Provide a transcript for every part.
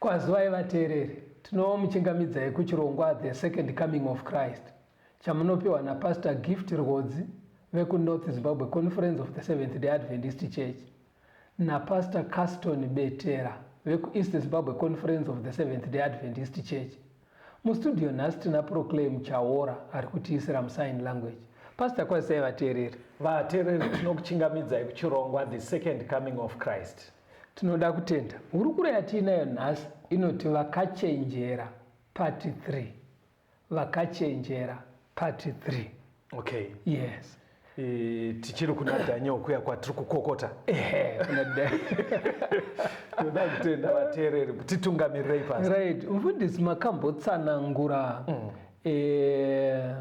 Kwazivai vateereri, tinomuchingamidzai kuchirongwa The Second Coming of Christ chamunopiwa naPastor Gift Rwodzi vekuNorth Zimbabwe Conference of the Seventh Day Adventist Church naPastor Caston Betera vekuEast Zimbabwe Conference of the Seventh Day Adventist Church. Mustudio nhasi tina Proclaim Chaora ari kutiisira musign language. Pastor kwazisai vateereri. Vateereri tinokuchingamidzai kuchirongwa The Second Coming of Christ. Tinoda kutenda. Hurukuro yatiinayo nhasi inoti Vakachenjera Part 3. Vakachenjera Part 3. Okay. Yes. E, tichiri kuna Daniel kuya kwatiri kukokota. Ehe, kuna Daniel. Tinoda kutenda vateereri kuti tungamirirei pasi. Right. Mfundisi makambotsanangura mm. e,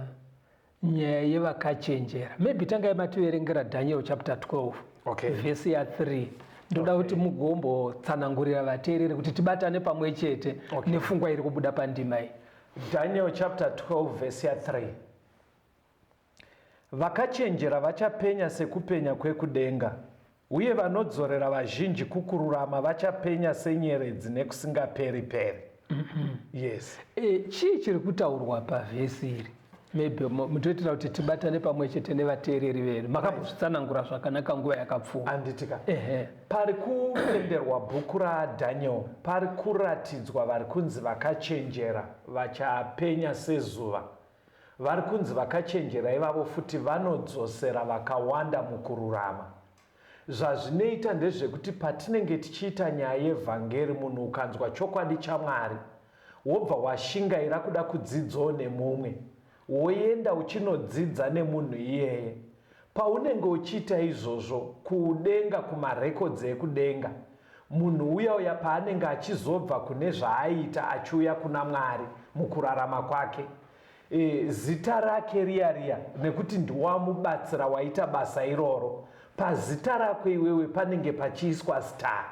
nyaya yevakachenjera maybe tangai mativerengera daniel chapter 12 okay. vhesi ya 3 ndoda kuti okay. mugombotsanangurira vateereri kuti tibatane pamwe chete okay. nefungwa iri kubuda pandima iyi daniel chapter 12 vhesi ya 3 vakachenjera vachapenya sekupenya kwekudenga Uye vanodzorera vazhinji kukururama vachapenya senyeredzi nekusingaperi-peri. Yes. E, chii chiri kutaurwa pavhesi iri? maybe mutoitira kuti tibatane pamwe chete nevateereri vedu makambozvitsanangura zvakanaka nguva yakapfuura anditika ehe pari kutenderwa bhuku radaniel pari kuratidzwa vari kunzi vakachenjera vachapenya sezuva Vari kunzi vakachenjera ivavo futi vanodzosera vakawanda mukururama. Zvazvinoita ndezvekuti patinenge tichiita nyaya yevhangeri munhu ukanzwa chokwadi chaMwari wobva washingaira kuda kudzidzawo nemumwe, woenda uchinodzidza nemunhu iyeye Paunenge uchiita izvozvo, kudenga, kumarekodzi ekudenga, munhu uya uya paanenge achizobva kune zvaaiita achiuya kuna Mwari mukurarama kwake, e, zita rake riya riya, nekuti ndiwamubatsira waita basa iroro, pazita rako iwewe panenge pachiiswa star.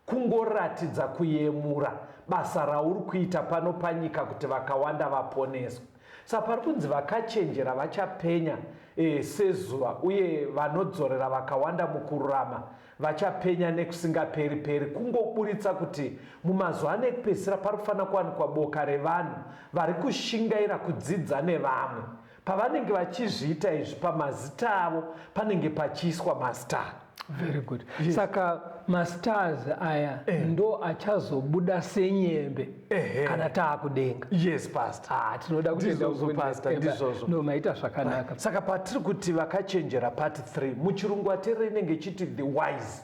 Kungoratidza kuyemura basa rauri kuita pano panyika kuti vakawanda vaponeswe. Sa pari kunzi vakachenjera vachapenya e, sezuva uye vanodzorera vakawanda mukururama vachapenya nekusingaperi peri. Kungoburitsa kuti mumazuva ano ekupedzisira pari kufanira kuwanikwa boka revanhu vari kushingaira kudzidza nevamwe Pavanenge vachizviita izvi pamazita avo panenge pachiiswa mastar. Very good. Yes. Saka mastars aya eh, ndo achazobuda senyembe eh, eh. kana taakudenga. Yes pastor. Ah, tinoda kutenda uzo pastor ndizvozvo. No maita zvakanaka. Ah, saka patiri kuti vakachenjera part 3 muchirungu atere inenge chiti the wise.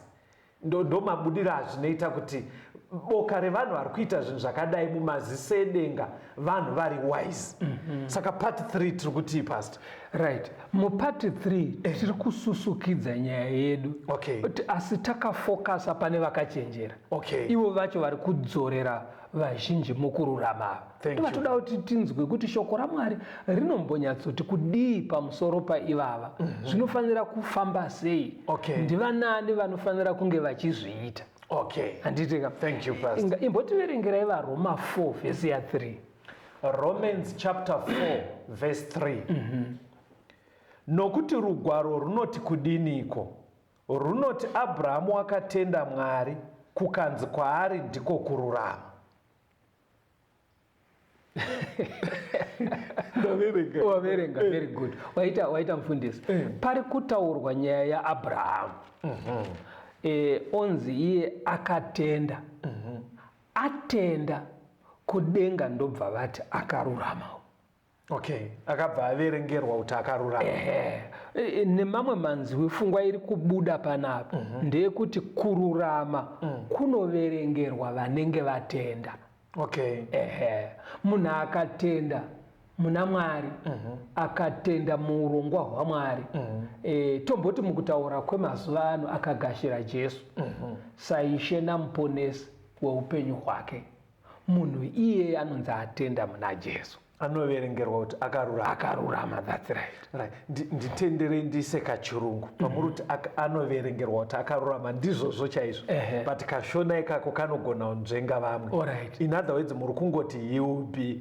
Ndomabudiro azvinoita kuti boka revanhu vari kuita zvinhu zvakadai mumaziso edenga vanhu vari wise mm -hmm. saka part 3 tiri kutii past right mupart 3 eh. tiri kususukidza nyaya yedu okay. asi takafocusa pane vakachenjera okay. ivo vacho vari kudzorera vazhinji mukururama ava Thank you. tivatoda kuti tinzwe kuti shoko ramwari rinombonyatsoti kudii pamusoro paivava zvinofanira kufamba sei Okay. ndivanani vanofanira kunge vachizviita okay handiti ka Thank you, Pastor. Inga- imbotiverengerai varoma 4 vhesi ya 3 romans chapter 4 verse 3 nokuti rugwaro runoti kudiniko Runoti Abrahamu wakatenda Mwari kukanzi kwaari ndiko kururama. Ndaverenga. Waverenga, very good. Waita, waita mfundisi. Eh. Pari kutaurwa nyaya yaAbrahamu. Mhm. Eh, onzi iye akatenda. Mhm. Atenda kudenga ndobva vati akaruramawo. okay akabva averengerwa kuti akarurama e, e, nemamwe manzwi fungwa iri kubuda panapa mm -hmm. ndeyekuti kururama mm. kunoverengerwa vanenge vatenda okay ehe munhu akatenda muna mwari mm -hmm. akatenda muurongwa hwamwari mm -hmm. e, tomboti mukutaura kwemazuva ano akagashira jesu mm -hmm. saishe namuponesi weupenyu hwake Munhu iye anonzi atenda muna Jesu anoverengerwa kuti akarurama akarurama that's right right nditenderei ndiise kachirungu mhm. pamuri kuti anoverengerwa kuti akarurama ndizvozvo chaizvo but kashona ikako kanogona kunzvenga vamwe in other words muri kungoti he will be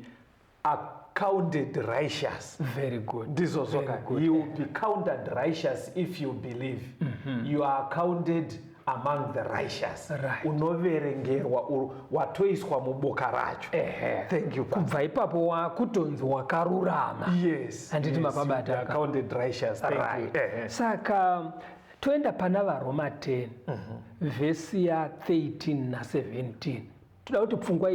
accounted righteous very good ndizvo zvoka he will be counted righteous if you believe mm -hmm. you are accounted among the righteous right. unoverengerwa watoiswa muboka racho thank you kubva ipapo wakutonzi wakarurama yes handiti yes, mapabata accounted righteous thank right. you saka toenda pana varoma 10 mm -hmm. vhesi ya 13 na 17 toda kuti pfungwa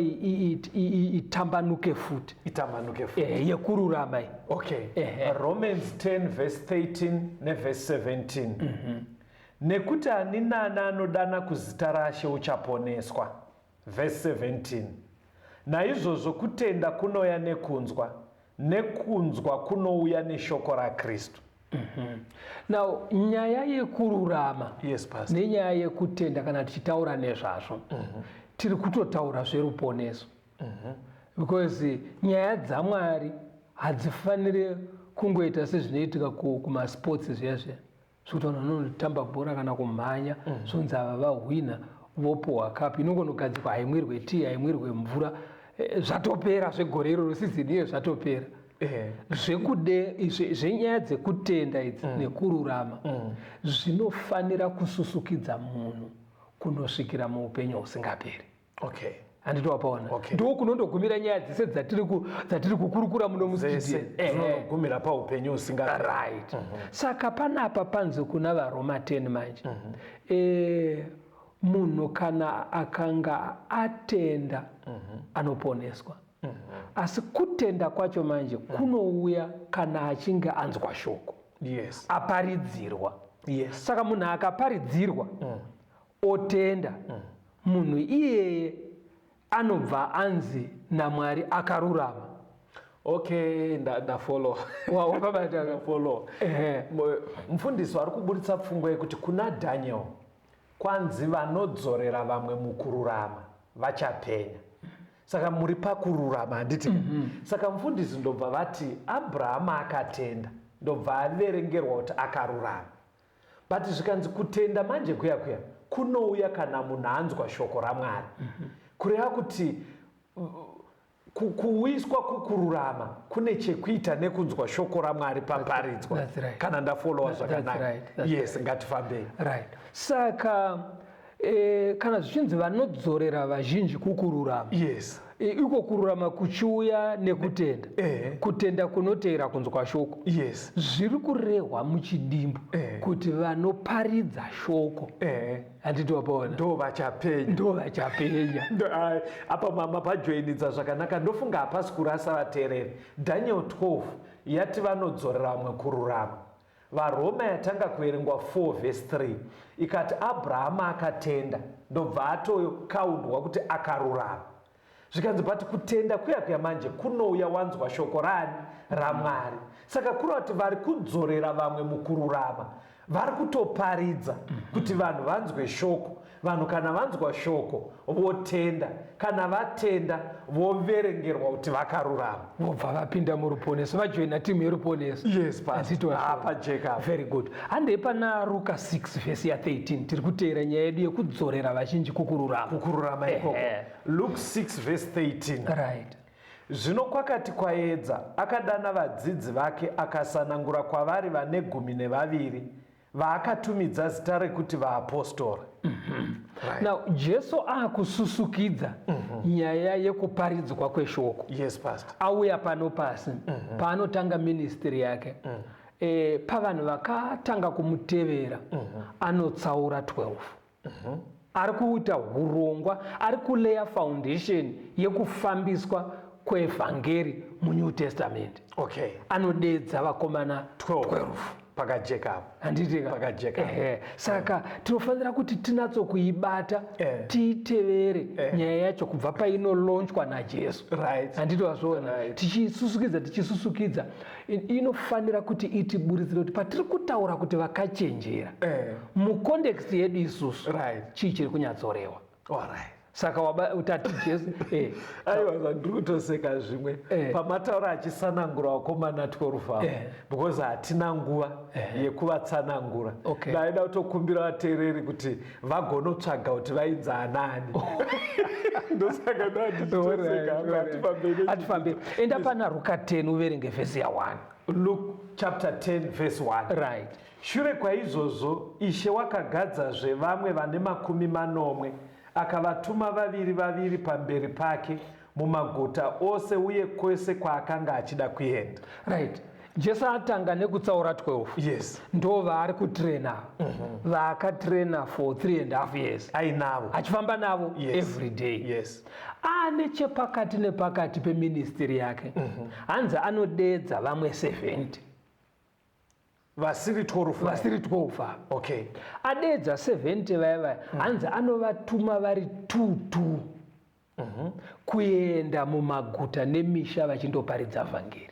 itambanuke futi itambanuke futi eh, yekururama iyi okay eh. romans 10 verse 13 neverse 17 mm -hmm. nekuti ani nani anodana kuzita rashe uchaponeswa verse 17 naizvozvo kutenda kunouya nekunzwa nekunzwa kunouya neshoko rakristu mm -hmm. now nyaya yekururama yes, nenyaya yekutenda kana tichitaura nezvazvo mm -hmm. tiri kutotaura zveruponeso mm -hmm. because nyaya dzamwari hadzifanire kungoita sezvinoitika kumasports zviya zviya zvekutaura vanotamba bhora kana kumhanya mm. zvonzi mm. ava vahwina vopuhwa kapu inongonogadzikwa haimwirwe tii haimwirwe mvura eh, zvatopera zvegore iroro sizini iyo zvatopera eh. zvekude zvenyaya dzekutenda idzi mm. nekururama mm. zvinofanira kususukidza munhu kunosvikira muupenyu husingaperi okay handiti wapaona okay. ndo kunondogumira nyaya dzese dzatiri dzatiri kukurukura muno musidinogumira eh, eh. paupenyu usinga right mm -hmm. saka panapa panzi kuna varoma 10 manje mm -hmm. e, munhu kana akanga atenda mm -hmm. anoponeswa mm -hmm. asi kutenda kwacho manje mm -hmm. kunouya kana achinge anzwa shoko yes. aparidzirwa yes. saka munhu akaparidzirwa mm -hmm otenda munhu iyeye anobva anzi namwari akarurama okay ndafollow wawabafollow mufundisi ari kuburitsa pfungwa yekuti kuna daniel kwanzi vanodzorera vamwe mukururama vachapenya saka muri pakururama handiti mm -hmm. saka mufundisi ndobva vati abrahama akatenda ndobva averengerwa kuti akarurama but zvikanzi kutenda manje kuya kuya kunouya kana munhu anzwa shoko ramwari mm -hmm. kureva kuti kuwiswa kukururama kune chekuita nekunzwa shoko ramwari paparidzwa right. kana ndafollowa zvakanaka yes right. ngatifambei right saka E, kana zvichinzi vanodzorera vazhinji kukururama yes. E, iko kururama kuchiuya nekutenda e. kutenda kunoteera kunzwa shoko yes. zviri kurehwa muchidimbu e. kuti vanoparidza shoko e. handiti wapaona ndo vachapenya ndo vachapenya apa mama pajoinidza zvakanaka ndofunga hapasi kurasa vateereri daniel 12 yati vanodzorera vamwe kururama VaRoma yatanga kuverengwa 4 vhesi 3 ikati Abrahama akatenda ndobva atoyo kaundwa kuti akarurama zvikanzi but kutenda kuya kuya manje kunouya wanzwa shoko rani ramwari saka kuri kuti vari kudzorera vamwe mukururama vari kutoparidza kuti vanhu vanzwe shoko Vanhu kana vanzwa shoko votenda, kana vatenda voverengerwa kuti vakarurama, vobva vapinda muruponeso, vajoina timu yeruponeso. Yes, pastor. Ah, pajeka. Very good. Handei pana Ruka 6 vhesi ya 13 tiri kuteera nyaya yedu yekudzorera vazhinji kukururama. Kukururama ikoko. Luke 6 vhesi 13. Right. Zvino kwakati kwaedza, akadana vadzidzi vake akasanangura kwavari vane gumi nevaviri vaakatumidza zita rekuti vaapostora mm -hmm. right. now jesu akususukidza mm -hmm. nyaya yekuparidzwa kweshoko yes, auya pano pasi mm -hmm. paanotanga ministry yake mm -hmm. e, pavanhu vakatanga kumutevera mm -hmm. anotsaura 12 Uh-huh. Ari kuita hurongwa, ari kuleya foundation yekufambiswa kwevhangeri munew testament okay. anodedza vakomana 12, 12. pakajeka apo handitika pakajeka ehe saka yeah. tinofanira kuti tinatso kuibata yeah. tiitevere yeah. nyaya yacho kubva painolonchwa najesu right. handiti wazviona right. tichisusukidza tichisusukidza inofanira kuti itiburidzire kuti patiri kutaura kuti vakachenjera eh. mucondext yedu isusu right. chii chiri kunyatsorewa right saka utati jesu eh. aiwa zvandiri kutoseka zvimwe eh. pamataura achisanangura wakomana 12 avo eh. because hatina nguva yekuvatsanangura ndaida kutokumbira vateereri kuti vagonotsvaga kuti vaidza anani ndosaka ndoatifaambei enda pana ruka 10 uverenge vhesi ya 1 luk chapter 10 vhesi 1 right shure kwaizvozvo ishe wakagadzazve vamwe vane makumi manomwe akavatuma vaviri vaviri pamberi pake mumaguta ose uye kwese kwaakanga achida kuenda right jesu atanga nekutsaura 12 yes ndo vaari kutraina mm -hmm. vaakatraina for 3 and half years ainavo achifamba navo yes. every day yes ane chepakati nepakati peministiri yake mm -hmm. hanzi anodeedza vamwe 70 vasiri 12 vasiri 12 okay adeedza 70 vaya vaya mm. hanzi anovatuma vari 2 2 mm -hmm. kuenda mumaguta nemisha vachindoparidza vhangeri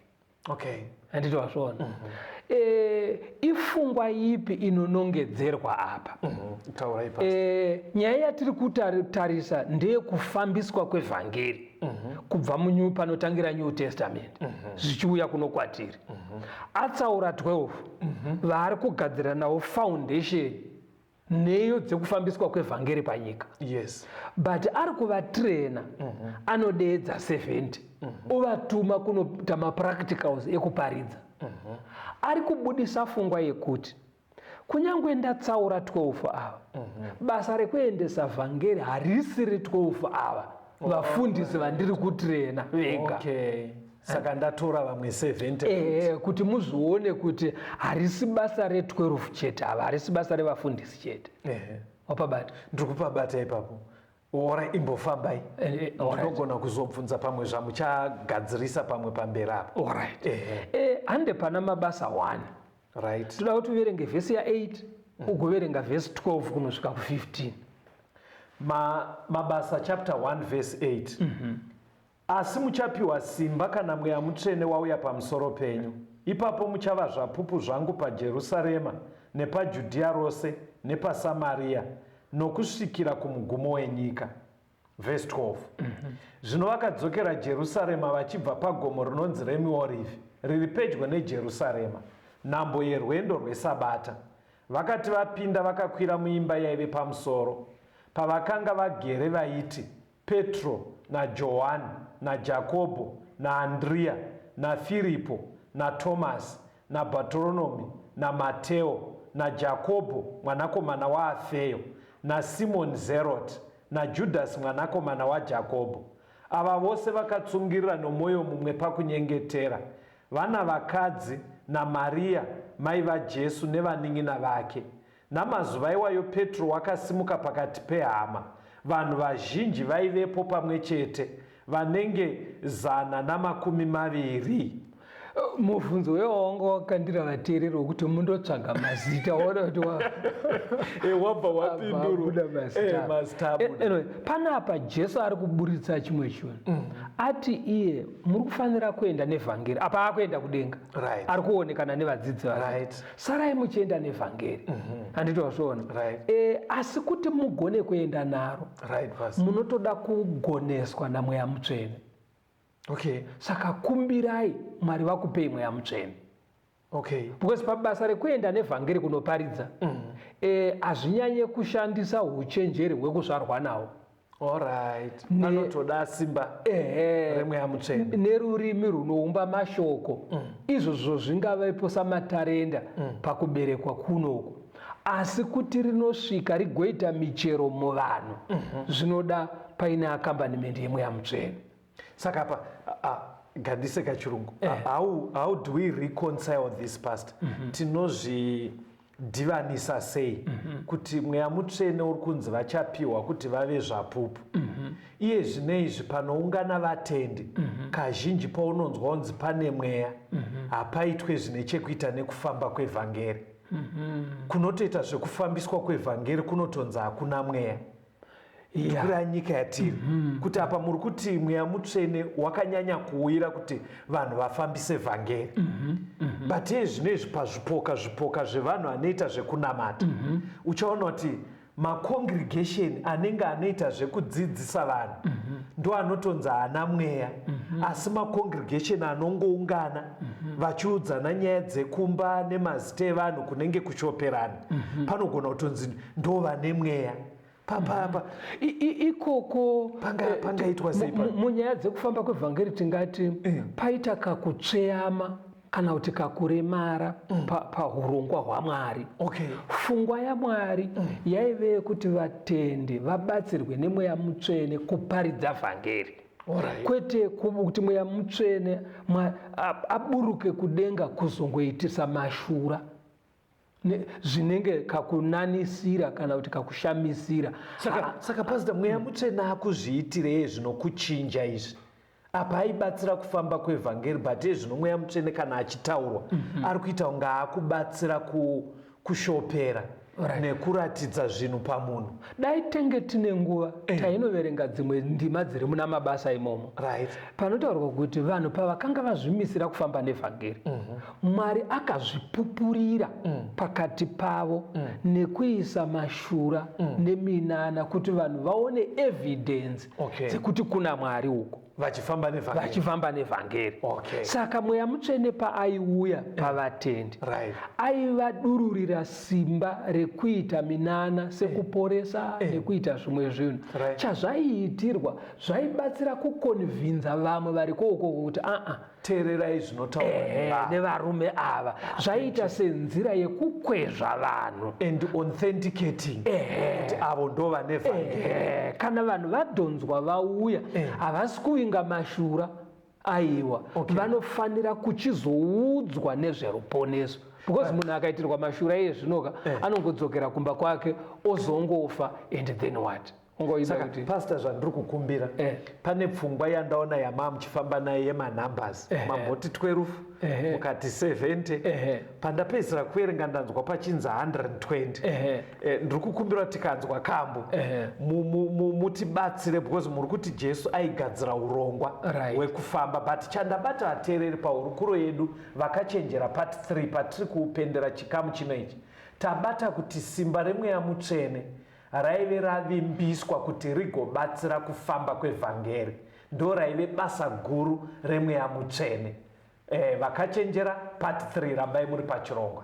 okay handiti wazviona mm -hmm. e, ifungwa ipi inonongedzerwa apa mm -hmm. e, nyaya yatiri kutarisa ndeyekufambiswa kwevhangeri mm -hmm. kubva munyu panotangira new testament mm -hmm. zvichiuya kuno kwatiri mm -hmm. atsaura 12 mm -hmm. vaari kugadzira nawo foundation nheyo dzekufambiswa kwevhangeri panyika yes. but ari kuvatrena mm -hmm. anodeedza 70 mm -hmm. ovatuma kunoita mapracticals ekuparidza mm -hmm. ari kubudisa fungwa yekuti Kunyangwe ndatsaura 12 ava, mhm. basa rekuendesa vhangeri harisiri 12 ava oh, vafundisi vandiri kutirena vega. Saka ndatora vamwe 70 eh, kuti muzvione kuti harisi basa re 12 chete ava, harisi basa revafundisi chete. Wapabata? Ndiri kupabata ipapo. Ora imbofambai eh, eh, ndinogona kuzobvunza pamwe zvamuchagadzirisa pamwe pamberi apa orit eh, eh. hande pana mabasa one right toda kuti uverenge vhesi ya8 mm. ugoverenga vhesi 12 kunosvika ku15 mabasa chapter 1 vhesi 8 mm -hmm. Asi muchapiwa simba kana Mweya Mutsvene wauya pamusoro penyu, ipapo muchava zvapupu zvangu paJerusarema, nepaJudhiya rose, nepaSamariya, nokusvikira kumugumo wenyika. Vhesi 12 Zvino vakadzokera Jerusarema vachibva pagomo rinonzi reMiorivhi, riri pedyo neJerusarema, nhambo yerwendo rweSabata. Vakati vapinda vakakwira muimba yaive pamusoro, pavakanga vagere vaiti, Petro, naJohani, naJakobho, naAndriya, naFiripo, naTomasi, naBhatoronomi, naMateo, naJakobho mwanakomana waAfeyo, naSimoni Zeroti, naJudhasi mwanakomana waJakobho. Ava vose vakatsungirira nomwoyo mumwe pakunyengetera, vana vakadzi naMariya mai vaJesu nevanin'ina vake. Namazuva iwayo Petro wakasimuka pakati pehama, vanhu vazhinji vaivepo pamwe chete, vanenge zana namakumi maviri. Mubvunzo uyo wanga wakandira vateereri wokuti mundotsvaga mazita waona kuti eh, wabva wapindurwa mazita eh, eh, anyway, panapa jesu ari kuburitsa chimwe chinhu mm. ati iye muri kufanira kuenda nevhangeri apa akuenda kudenga right. ari kuonekana nevadzidzi vake right. sarai muchienda nevhangeri mhm. handiti wazviona eh, asi kuti mugone kuenda naro munotoda kugoneswa namweya mutsvene okay saka kumbirai mwari vakupei mweya mutsvene okay because pabasa rekuenda nevhangeri kunoparidza mm. eh, hazvinyanye kushandisa uchenjeri hwekuzvarwa nawo Alright. Ne- Anotoda simba Ehe. remweya mutsvene. nerurimi runoumba mashoko izvozvo zvingavepo samatarenda pakuberekwa kunoku asi kuti rinosvika rigoita michero muvanhu zvinoda paine akambanimende yemweya mutsvene Saka pa a- a- gadise kachirungu. A- How how do we reconcile this past? Tinozvi divanisa sei mm -hmm. kuti mweya mutsvene uri kunzi vachapiwa kuti vave zvapupu mm -hmm. iye zvine izvi panoungana vatendi mm -hmm. kazhinji paunonzwa unzi pane mweya mm -hmm. hapaitwe zvine chekuita nekufamba kwevhangeri mm -hmm. kunotoita zvekufambiswa kwevhangeri kunotonzi hakuna mweya tikura nyika yatiri mm-hmm. kuti apa muri kuti mweya mutsvene wakanyanya kuuyira kuti vanhu vafambise vhangeri mm-hmm. mm-hmm. but iye zvino izvi pazvipoka zvipoka zvevanhu anoita zvekunamata uchaona kuti macongregation anenge anoita zvekudzidzisa vanhu ndo anotonzi haana mweya asi macongregation anongoungana vachiudzana nyaya dzekumba nemazita evanhu kunenge kuchoperana panogona kutonzi ndovane mweya papapa ikoko eh, pangaitwa sei munyaya dzekufamba kwevhangeri tingati eh. paita kakutsveyama kana kuti kakuremara mm. pahurongwa hwamwari okay. fungwa yamwari mm. yaive yekuti vatendi vabatsirwe nemweya mutsvene kuparidza vhangeri Right. kwete kuti mweya mutsvene aburuke kudenga kuzongoitisa mashura zvinenge kakunanisira kana kuti kakushamisira saka, ah, saka pasita mweya mutsvena akuzviitirei zvinokuchinja izvi apa aibatsira kufamba kwevhangeri but iye zvino mweya mutsvene kana achitaurwa mm -hmm. ari kuita kunge akubatsira ku, kushopera right. nekuratidza zvinhu pamunhu dai tenge tine nguva eh. tainoverenga dzimwe ndima dziri muna mabasa imomo right. panotaurwa kuti vanhu pavakanga vazvimisira kufamba nevhangeri mm -hmm. Mwari akazvipupurira mm. pakati pavo mm. nekuisa mashura mm. neminana kuti vanhu vaone evidence okay. dzekuti kuna Mwari uko vachifamba nevhangeri, vachifamba nevhangeri. Okay. saka mweya mutsvene paaiuya eh. pavatendi right. aivadururira simba rekuita minana sekuporesa eh. eh. nekuita zvimwe zvinhu right. chazvaiitirwa zvaibatsira kukonvhinza vamwe vari koukoko kuti aa teererai zvinotaurwa eh, eh, nevarume ava zvaiita senzira yekukwezva vanhu and authenticating eh, kuti avo ndo vane vhangeri kana vanhu vadhonzwa vauya havasi kuvinga mashura aiwa okay. vanofanira kuchizoudzwa nezveruponeso because munhu akaitirwa mashura iye zvinoka anongodzokera kumba kwake ozongofa and then what saka pasta zvandiri kukumbira eh. pane pfungwa yandaona yamaa muchifamba naye yemanumbers eh. mamboti 12 eh. mukati 70 eh. pandapedzisira kuverenga ndanzwa pachinzi 120 eh. eh, ndiri kukumbira tikanzwa kambo eh. mutibatsire because muri kuti jesu aigadzira urongwa right. wekufamba but chandabata vateereri pahurukuro yedu vakachenjera part 3 patiri kuupendera chikamu chino ichi tabata kuti simba remweya mutsvene Raive ravimbiswa kuti rigobatsira kufamba kwevhangeri. Ndoraive basa guru remweya mutsvene. E, vakachenjera part 3 rambai muri pachirongwa.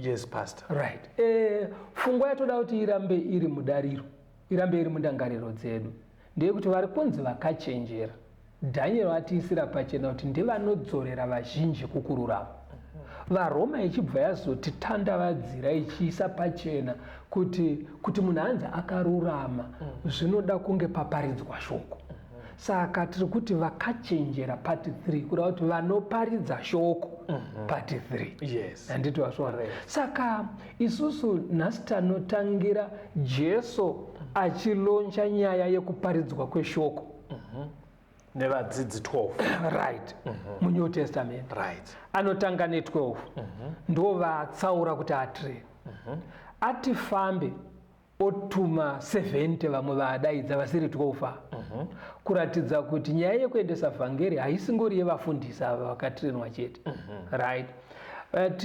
yes pastor right eh, fungwa yatoda kuti irambe iri mudariro irambe iri mundangariro dzedu ndeyekuti vari kunzi vakachenjera dhanyero atiisira pachena kuti ndevanodzorera vazhinji kukururama varoma ichibva yazotitandavadzira ichiisa pachena kuti kuti munhu anzi akarurama zvinoda kunge paparidzwa shoko saka tiri kuti vakachenjera part 3 kuda kuti vanoparidza shoko mhm. part 3 handiti vasvora saka isusu nhasi tanotangira jesu achiloncha nyaya yekuparidzwa kweshoko mhm. nevadzidzi 12 right mhm. munew testament right anotanga ne12 ndo vatsaura kuti atree atifambe otuma 70 vamwe vaadaidza vasiri 12 ava uh mhm. -huh. kuratidza kuti nyaya yekuendesa vhangeri haisingori yevafundisi ava vakatirenwa chete uh mhm. -huh. right but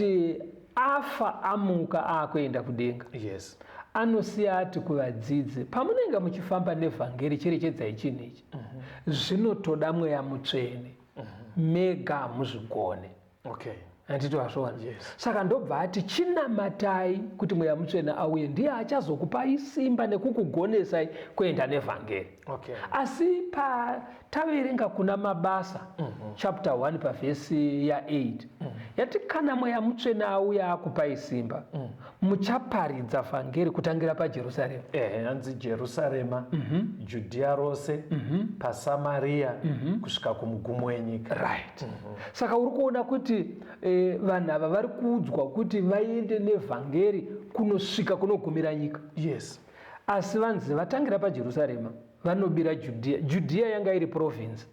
afa amuka aakuenda kudenga yes. anosiya ati kuvadzidzi pamunenge muchifamba nevhangeri cherechedzai chinhu ichi uh mhm. -huh. zvinotoda mweya mutsvene uh -huh. mega hamuzvigone okay handiti wazviona yes. saka ndobva ati chinamatai kuti mweya mutsvene auye ndiye achazokupai simba nekukugonesai kuenda nevhangeri okay. asi pataverenga kuna mabasa mm -hmm. chapter 1 pavhesi ya8 mm -hmm. yati kana mweya mutsvene auya akupai simba mm -hmm. muchaparidza vhangeri kutangira pajerusarema ehe hanzi jerusarema mm -hmm. judhiya rose mm -hmm. pasamariya mm -hmm. kusvika kumugumo wenyika right mm -hmm. saka uri kuona kuti eh, vanhu ava vari kuudzwa kuti vaende nevhangeri kunosvika kunogumira nyika yes asi vanzi vatangira pajerusarema vanobira judhiya judhiya yanga iri province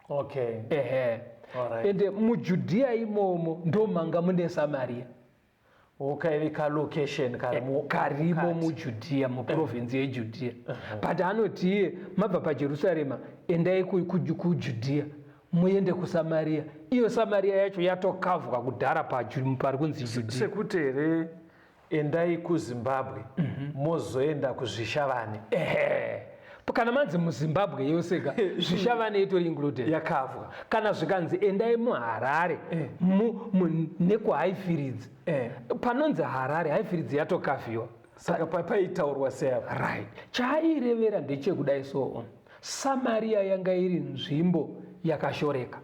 okay ehe right. ende mujudhiya imomo ndomanga mune samariya ukaive kalocation karimo eh, karimo mujudhiya muprovinsi yejudhiya uh-huh. but anoti iye mabva pajerusarema endai kujudhiya muende kusamariya iyo samariya yacho yatokavwa kudhara pari kunzi judhiya sekuti here endai kuzimbabwe mhm. mozoenda kuzvishavane kana manzi muzimbabwe yose ka zvichava neitori included yakavwa kana zvikanzi endai muharare eh. nekuhaifiridzi eh. panonzi harare haifiridzi yatokaviwa saka paitaurwa seavo right chaairevera ndechekudai soo samariya yanga iri nzvimbo yakashoreka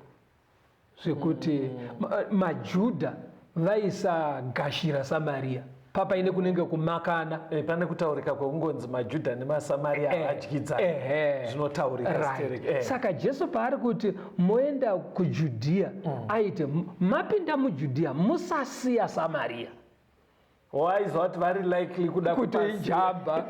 zvekuti mm. majudha vaisagashira samariya papa ine kunenge kumakana e, pane kutaurika kwekungonzi majudha nemasamaria eh, adyidzana e, e, zvinotaurika right. e. saka jesu paari kuti moenda kujudhiya mm. aiti mapinda mujudhiya musasiya samariya waizwa kuti vari likely kuda kutoijamba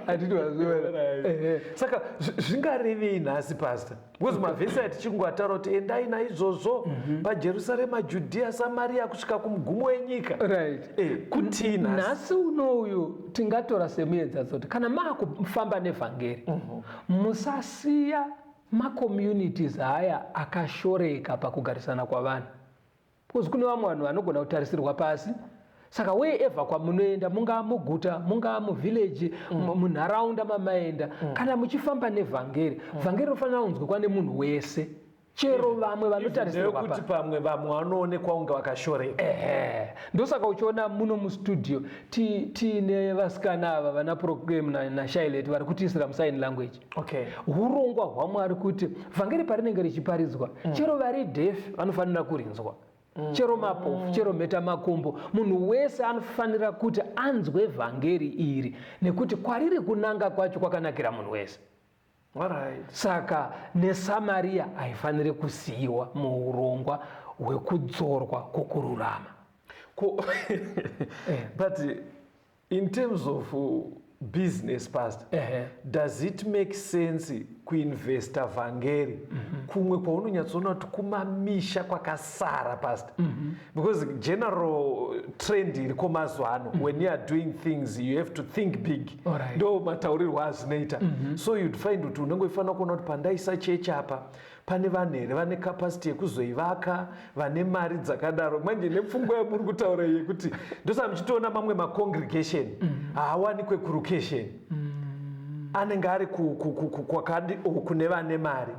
saka zvingarevei nhasi pasta because mavhesi atichingoataura kuti endai naizvozvo mhm. pajerusarema judhiya samariya kusvika kumugumo wenyika right eh, kutii nhasi unouyu tingatora semuedzazoti kana maakufamba nevhangeri mhm. musasiya macommunities aya akashoreka pakugarisana kwavanhu Because kune vamwe vanhu vanogona kutarisirwa pasi saka wherever kwamunoenda mungaa muguta mungaa muvhillaji mm. munharaunda mamaenda mm. kana muchifamba nevhangeri mm. vhangeri rinofanira kunzwikwa nemunhu wese chero vamwe vanotarisirwa kuti pamwe vamwe vanoonekwa kunge vakashoreka ehe ndosaka uchiona muno mustudio tiine vasikana ava vana proclaim nashailet vari kutiisira musign language Okay. Hurongwa hwaMwari kuti vhangeri parinenge richiparidzwa mm. chero vari dhefi vanofanira kurinzwa mm. chero mapofu mm. chero mheta makumbo munhu wese anofanira kuti anzwe vhangeri iri nekuti kwariri kunanga kwacho kwakanakira munhu wese right. saka nesamariya haifaniri kusiyiwa muurongwa hwekudzorwa kwokururama ko eh. but In terms of uh, business pastor, uh -huh. does it make sense kuinvesta vhangeri mm -hmm. kumwe kwaunonyatsoona kuti kumamisha kwakasara pastor mm -hmm. because general trend iriko mazuva ano mm -hmm. when you are doing things you have to think big ndo right. mataurirwo azvinoita mm -hmm. so you'd find kuti unenge uchifanira kuona kuti pandaisa chechi apa pane vanhu here vane capacity yekuzoivaka vane mari dzakadaro manje nepfungwa yamuri kutaura yekuti ndosaka muchitoona mamwe macongregation mm. haawani kwekurucation mm. anenge ari kwakadi o kune vane mari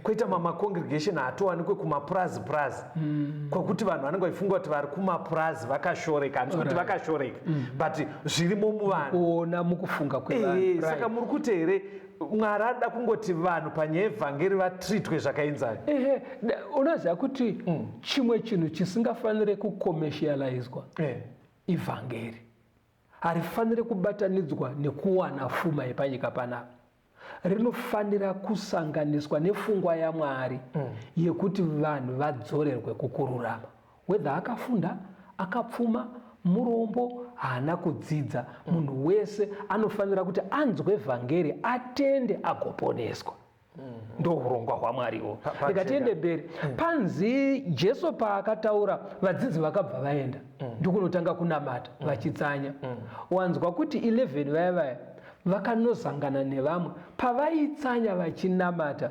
kwoita mamacongregation haatowani kwekumapurazi purazi mm. kwakuti vanhu vanenge vachifunga kuti vari kumapurazi vakashoreka handisi kuti vakashoreka but zvirimo muvanhu ona mukufunga kwesaka muri kuti here mwari ada kungoti vanhu panyaya yevhangeri vatritwe zvakainzai ehe unoziva kuti mm. chimwe chinhu chisingafanire kucommercializwa eh. ivhangeri harifanire kubatanidzwa nekuwana fuma yepanyika panapa rinofanira kusanganiswa nefungwa yamwari mm. yekuti vanhu vadzorerwe kukururama Whether akafunda, akapfuma, murombo, haana kudzidza, mm. munhu wese anofanira kuti anzwe vhangeri, atende agoponeswa. Mm-hmm. ndo urongwa hwamwariwo rega tiende mberi mm. panzi jesu paakataura vadzidzi vakabva vaenda mm. ndokunotanga kunamata mm. vachitsanya wanzwa kuti 11 vaya vaya vakanozangana nevamwe pavaitsanya vachinamata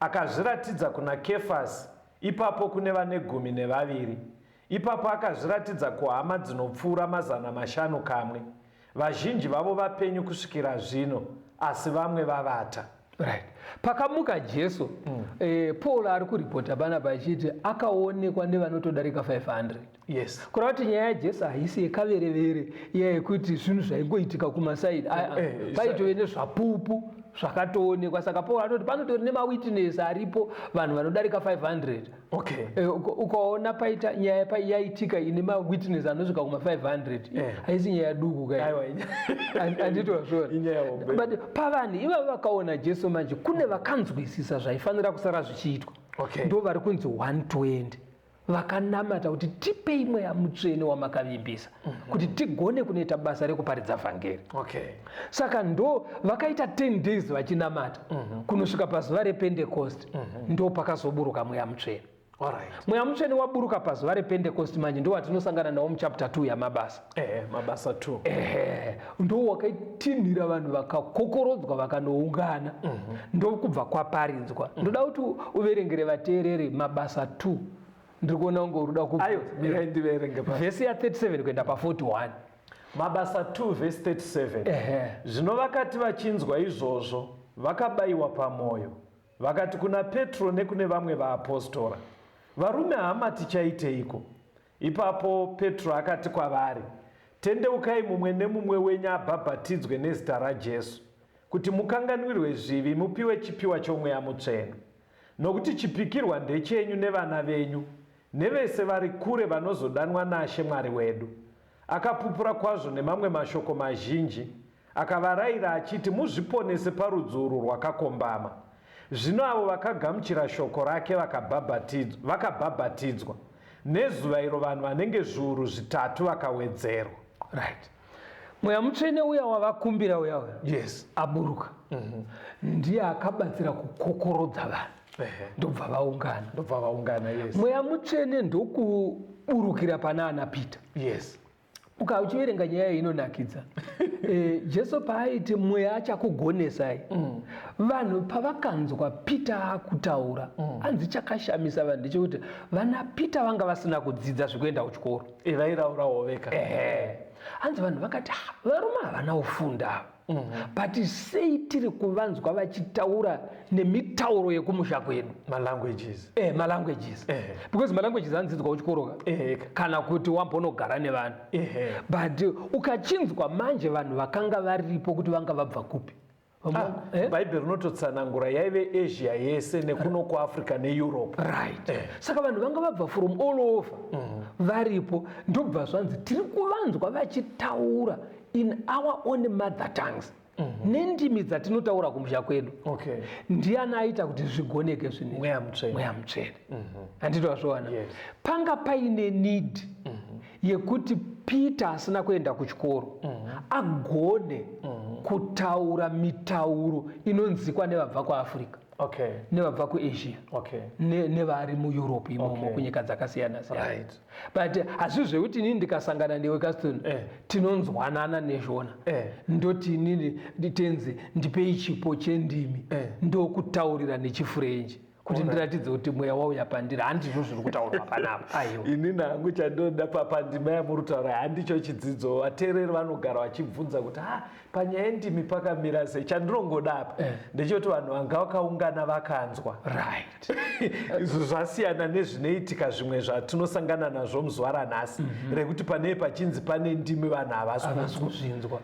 Akazviratidza kuna Kefasi, ipapo kune vane gumi nevaviri, ipapo akazviratidza kuhama dzinopfuura mazana mashanu kamwe. Vazhinji vavo vapenyu kusvikira zvino, asi vamwe vavata. Right. Pakamuka Jesu, mm. eh, Paul ari kuripota panapa achiti akaonekwa nevanotodarika 500. yes kureva kuti nyaya yajesu haisi yekaverevere iya yekuti zvinhu zvaingoitika kumasaidi aa eh, eh, paitove nezvapupu zvakatoonekwa saka paul anoti panotori nemawitness aripo vanhu vanodarika 500 okay. e, ukaona paita nyaya yaitika ine mawitness anosvika kuma 500 eh. haisi nyaya duku kaanditozvonaut pavanhu ivavo vakaona jesu manje kune vakanzwisisa zvaifanira kusara zvichiitwa okay. ndo vari kunzi 120 vakanamata kuti tipei mweya mutsvene wamakavimbisa mm -hmm. kuti tigone kunoita basa rekuparidza vhangeri okay. saka ndo vakaita 10 days vachinamata mm -hmm. kunosvika pazuva repentekosti mm -hmm. ndo pakazoburuka mweya mutsvene right. mweya mutsvene waburuka pazuva repentekosti manje ndo watinosangana nawo muchapter 2 yamabasa ehe mabasa two ehe ndo wakaitinhira vanhu vakakokorodzwa vakanoungana mhm. ndokubva kwaparidzwa mhm. ndoda kuti uverengere vateereri mabasa two ndiri kuona kunge uri kuda kuvhesi ya 37 kuenda pa41 mabasa 2 vhesi 37 zvino vakati vachinzwa izvozvo vakabayiwa pamwoyo vakati kuna petro nekune vamwe vaapostora varume hama tichaiteiko Ipapo Petro akati kwavari, Tendeukai mumwe nemumwe wenyu abhabhatidzwe nezita raJesu, kuti mukanganwirwe zvivi mupiwe chipiwa choMweya Mutsvene. Nokuti chipikirwa ndechenyu nevana venyu, nevese vari kure vanozodanwa naShe Mwari wedu. Akapupura kwazvo nemamwe mashoko mazhinji, Akavaraira achiti, Muzviponese parudzi urwu rwakakombama. Zvino avo vakagamuchira shoko rake vakabhabhatidzwa, vakabhabhatidzwa. Nezuva iro vanhu vanenge zviuru zvitatu vakawedzerwa. Right. Mweya mutsvene uya wavakumbira uya uya. Yes. Aburuka. Mhm. Ndiye akabatsira kukokorodza vanhu. Ehe. Ndobva vaungana. Ndobva vaungana, yes. Mweya mutsvene ndokuburukira pana ana Peter. Yes. uka uchiverenga nyaya iyi inonakidza e, jesu paaiti mweya achakugonesai mm. vanhu pavakanzwa peter akutaura mm. anzi chakashamisa vanhu ndechekuti vana peter vanga vasina kudzidza zvekuenda kuchikoro e, vairaurawo veka ehe hanzi vanhu vakati ah, varume havana kufunda Mm-hmm. but sei tiri kuvanzwa vachitaura nemitauro yekumusha kwedu malanguages eh, malanguages eh. because malanguages anodzidzwa kuchikoroka eh. kana kuti wambonogara nevanhu eh. but ukachinzwa manje vanhu vakanga varipo kuti vanga vabva kupi ah, eh? bhaibheri rinototsanangura yaive asia yese nekuno kuafrica neeurope right eh. saka vanhu vanga vabva from all over mm. varipo ndobva zvanzi tiri kuvanzwa vachitaura in our own mother tongues mm -hmm. nendimi dzatinotaura kumusha kwedu okay. ndiani aita kuti zvigoneke zvine mweya mutsvene mm -hmm. handiti wazviona yes. panga paine need mm -hmm. yekuti peter asina kuenda kuchikoro mm -hmm. agone mm -hmm. kutaura mitauro inonzikwa nevabva kuafrica okay. nevabva kuasia okay. nevari ne mueurope imomo okay. kunyika dzakasiyana siyana right. but hazvi zvekuti inini ndikasangana newe caston eh. tinonzwanana nezvona eh. ndoti inini nditenzi ndipei chipo chendimi eh. ndokutaurira nechifurenji kuti ndiratidze kuti mweya wauya pandiri handizvo zviri kutaurwa panapa aiwa ini nangu chandoda papandima yamurutaura handicho chidzidzo vateereri vanogara vachibvunza kuti ha panyaya yendimi pakamira sei chandinongoda apa eh. ndechekuti vanhu vanga vakaungana vakanzwa right zvasiyana nezvinoitika zvimwe zvatinosangana nazvo muzuva ranhasi mm -hmm. rekuti panei pachinzi pane ndimi vanhu havasi kuzvinzwa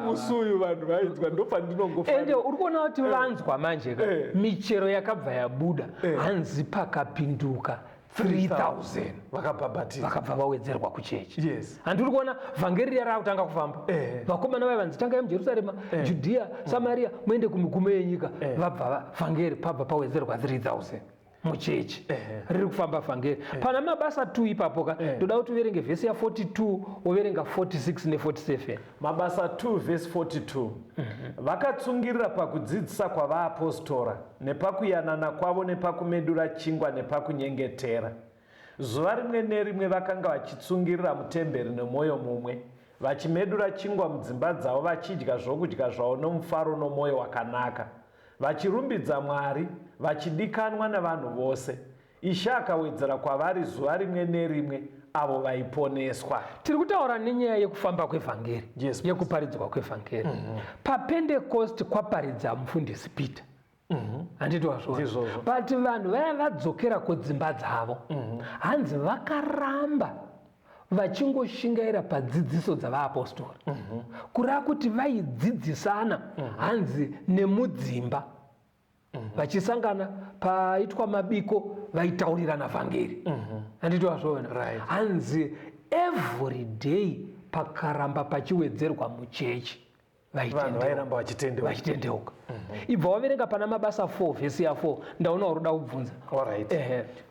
musi uyu vanhu vainzwa ndopandinongoende uri kuona kuti eh. vanzwa manje eh. michero yakabva yabuda eh. hanzi pakapinduka 3000 vakabhabhatidzwa vakabva vawedzerwa kuchechi yes and tiri kuona vhangeri riya raakutanga kufamba eh. vakomana vaya vanzi tangai mujerusarema eh. judhiya mm. samariya muende kumigumo yenyika eh. vabva vhangeri pabva pawedzerwa 3000 muchechi eh. riri kufamba vhangeri eh. pana mabasa 2 ipapo ka eh. toda kuti uverenge vhesi ya 42 woverenga 46 ne 47 Mabasa 2 vhesi 42 Vakatsungirira pakudzidzisa kwavaapostora, nepakuyanana kwavo, nepakumedura chingwa, nepakunyengetera. Zuva rimwe nerimwe vakanga vachitsungirira mutemberi nomwoyo mumwe, vachimedura chingwa mudzimba dzavo, vachidya zvokudya zvavo nomufaro nomwoyo wakanaka, vachirumbidza Mwari, vachidikanwa navanhu vose. Ishe akawedzera kwavari zuva rimwe nerimwe avo vaiponeswa. Tiri kutaura nenyaya yekufamba kwevhangeri, yes, yekuparidzwa kwevhangeri. Mm -hmm. PaPentecost kwaparidza mufundisi Peter. Mhm. handiti wazvona but vanhu vaya vadzokera kudzimba dzavo mhm. hanzi vakaramba vachingoshingaira padzidziso dzavaapostori mhm. kureva kuti vaidzidzisana hanzi nemudzimba mhm. vachisangana paitwa mabiko vaitaurirana vhangeri mhm. handiti wazvoona hanzi every day pakaramba pachiwedzerwa muchechi vairamba vachitendeuka mhm. ibva waverenga pana mabasa 4 vhesi ya4 ndaona uri kuda kubvunza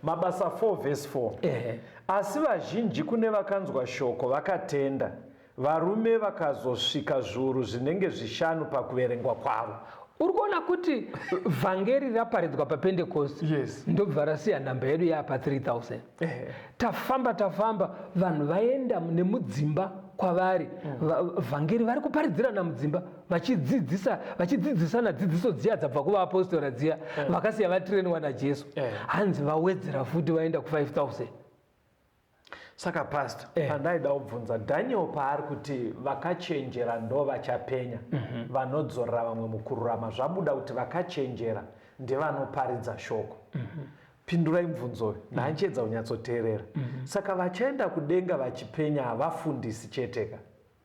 mabasa 4 vhesi 4 asi vazhinji kune vakanzwa shoko vakatenda Varume vakazosvika zviuru zvinenge zvishanu pakuverengwa kwavo. Uri kuona kuti vhangeri raparidzwa papentekosti yes. ndobva rasiya nhamba yedu yaapa 3000 eh. tafamba tafamba vanhu vaenda nemudzimba kwavari mm. vhangeri vari kuparidzirana mudzimba vachidzidzisa vachidzidzisana dzidziso dziya dzabva kuvaapostora dziya mm. vakasiya vatireniwa najesu eh. hanzi vawedzera futi vaenda ku 5000 Saka pastor eh. pandaida kubvunza Daniel paari kuti vakachenjera ndo vachapenya mm -hmm. vanodzorera vamwe mukururama zvabuda kuti vakachenjera ndevanoparidza shoko mm -hmm. pindurai mubvunzo uyu mm -hmm. kunyatsoteerera mm -hmm. saka vachaenda kudenga vachipenya havafundisi cheteka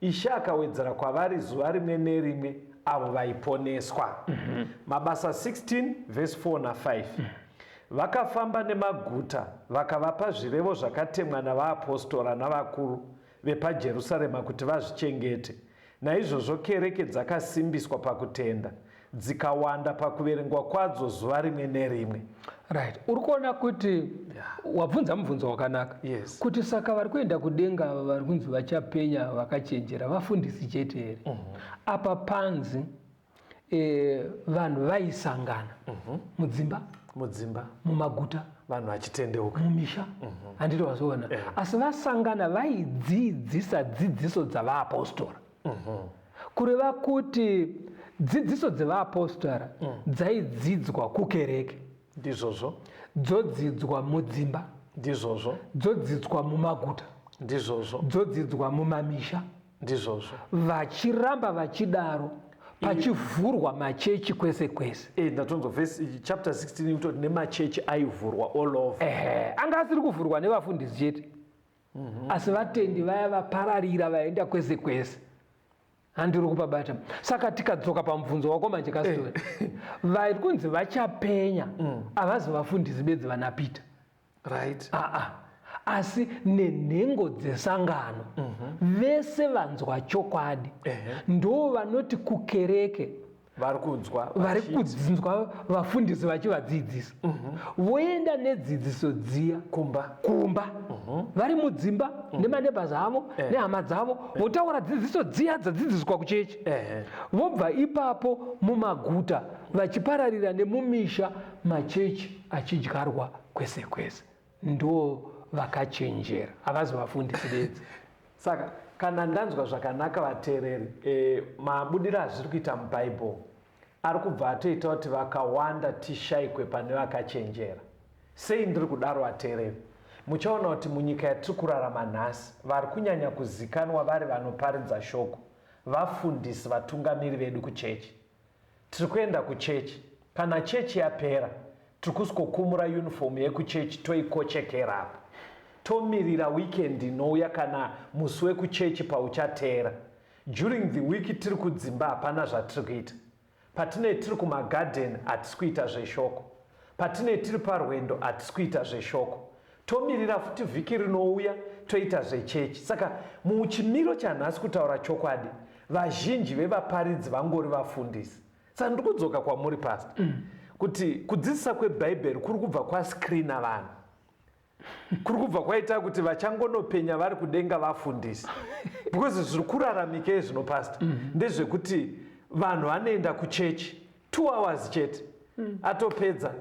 Ishe akawedzera kwavari zuva rimwe nerimwe avo vaiponeswa. Mm -hmm. Mabasa 16 vhesi 4 na 5. Mm -hmm. Vakafamba nemaguta vakavapa zvirevo zvakatemwa navaapostora navakuru vepaJerusarema kuti vazvichengete. Naizvozvo kereke dzakasimbiswa pakutenda dzikawanda pakuverengwa kwadzo zuva rimwe nerimwe right uri kuona kuti yeah. wabvunza mubvunzo wakanaka yes. kuti saka vari kuenda kudenga ava vari kunzi vachapenya vakachenjera vafundisi chete here mm -hmm. apa panzi e, vanhu vaisangana mm -hmm. mudzimba mudzimba mumaguta vanhu vachitendeuka mumisha mm -hmm. anditi vazoona yeah. asi vasangana vaidzidzisa dzidziso dzavaapostora Kureva kuti dzidziso dzevaapostora dzaidzidzwa kukereke. Ndizvozvo. Dzodzidzwa mudzimba. Ndizvozvo. Dzodzidzwa mumaguta. Ndizvozvo. Dzodzidzwa mumamisha. Ndizvozvo. Vachiramba vachidaro pachivhurwa machechi kwese kwese eh, ndatonzwa vhesi eh, chapter 16 kutoti nemachechi aivhurwa all over ehe anga asiri kuvhurwa nevafundisi chete mm -hmm. asi vatendi vaya vapararira vaenda kwese kwese handiri kupabata saka tikadzoka pamubvunzo wako manje kastori eh. vari kunzi vachapenya mm. havazi mm. vafundisi bedzi vana peter right aa ah, ah. asi nenhengo dzesangano mm -hmm. vese vanzwa chokwadi uh -huh. ndo vanoti kukereke vari kudzwa vari kudzinzwa vafundisi vachivadzidzisa mhm. voenda nedzidziso dziya kumba kumba mhm. vari mudzimba mhm. nemanebhas avo eh. nehama dzavo eh. votaura dzidziso dziya dzadzidziswa kuchechi eh. vobva ipapo mumaguta vachipararira nemumisha machechi achidyarwa kwese kwese ndo vakachenjera havazi vafundisi bedzi saka kana ndanzwa zvakanaka vateereri e, mabudiro azviri kuita mubhaibheri ari kubva atoita kuti vakawanda tishaikwe pane vakachenjera sei ndiri kudaro vateereri muchaona kuti munyika yatiri kurarama nhasi vari kunyanya kuzikanwa vari vanoparidza shoko vafundisi vatungamiri vedu kuchechi Tiri kuenda kuchechi. Kana chechi yapera tiri kusikokumura uniform yekuchechi toikochekera apa tomirira weekend inouya kana musi wekuchechi pauchateera. During the week tiri kudzimba hapana zvatiri kuita. Patinei tiri kumagarden hatisi kuita zveshoko. Patinei tiri parwendo hatisi kuita zveshoko. Tomirira futi vhiki rinouya toita zvechechi. Saka muchimiro chanhasi kutaura chokwadi vazhinji vevaparidzi vangori vafundisi. Saka ndiri kudzoka kwamuri pastor mm. kuti kudzidzisa kwebhaibheri kuri kubva kwascreena vanhu kuri kubva kwaita kuti vachangonopenya vari kudenga vafundisi because zviri kuraramika izvino pasta mm -hmm. ndezvekuti vanhu vanoenda kuchechi two hours chete mm. atopedza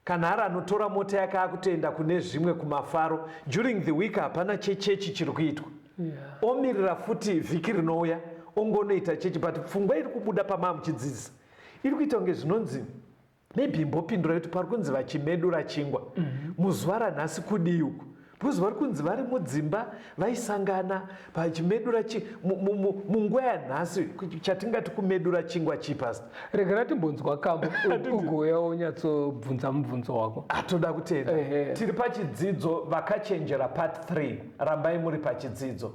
Kanhara anotora mota yake akutoenda kune zvimwe kumafaro during the week hapana chechechi chiri kuitwa yeah. omirira futi vhiki rinouya ongonoita chechi but pfungwa iri kubuda pamaa muchidzidzisa iri kuita kunge zvinonzi maybe imbopindura kuti pari kunzi vachimedura chingwa mm -hmm. muzuva ranhasi kudii uku because vari kunzi vari mudzimba vaisangana pachimedura munguva yanhasi chatingati kumedura chingwa chii past regera timbonzwa kambo ugouya wonyatsobvunza mubvunzo wako atoda kutenda tiri pachidzidzo vakachenjera part 3 rambai muri pachidzidzo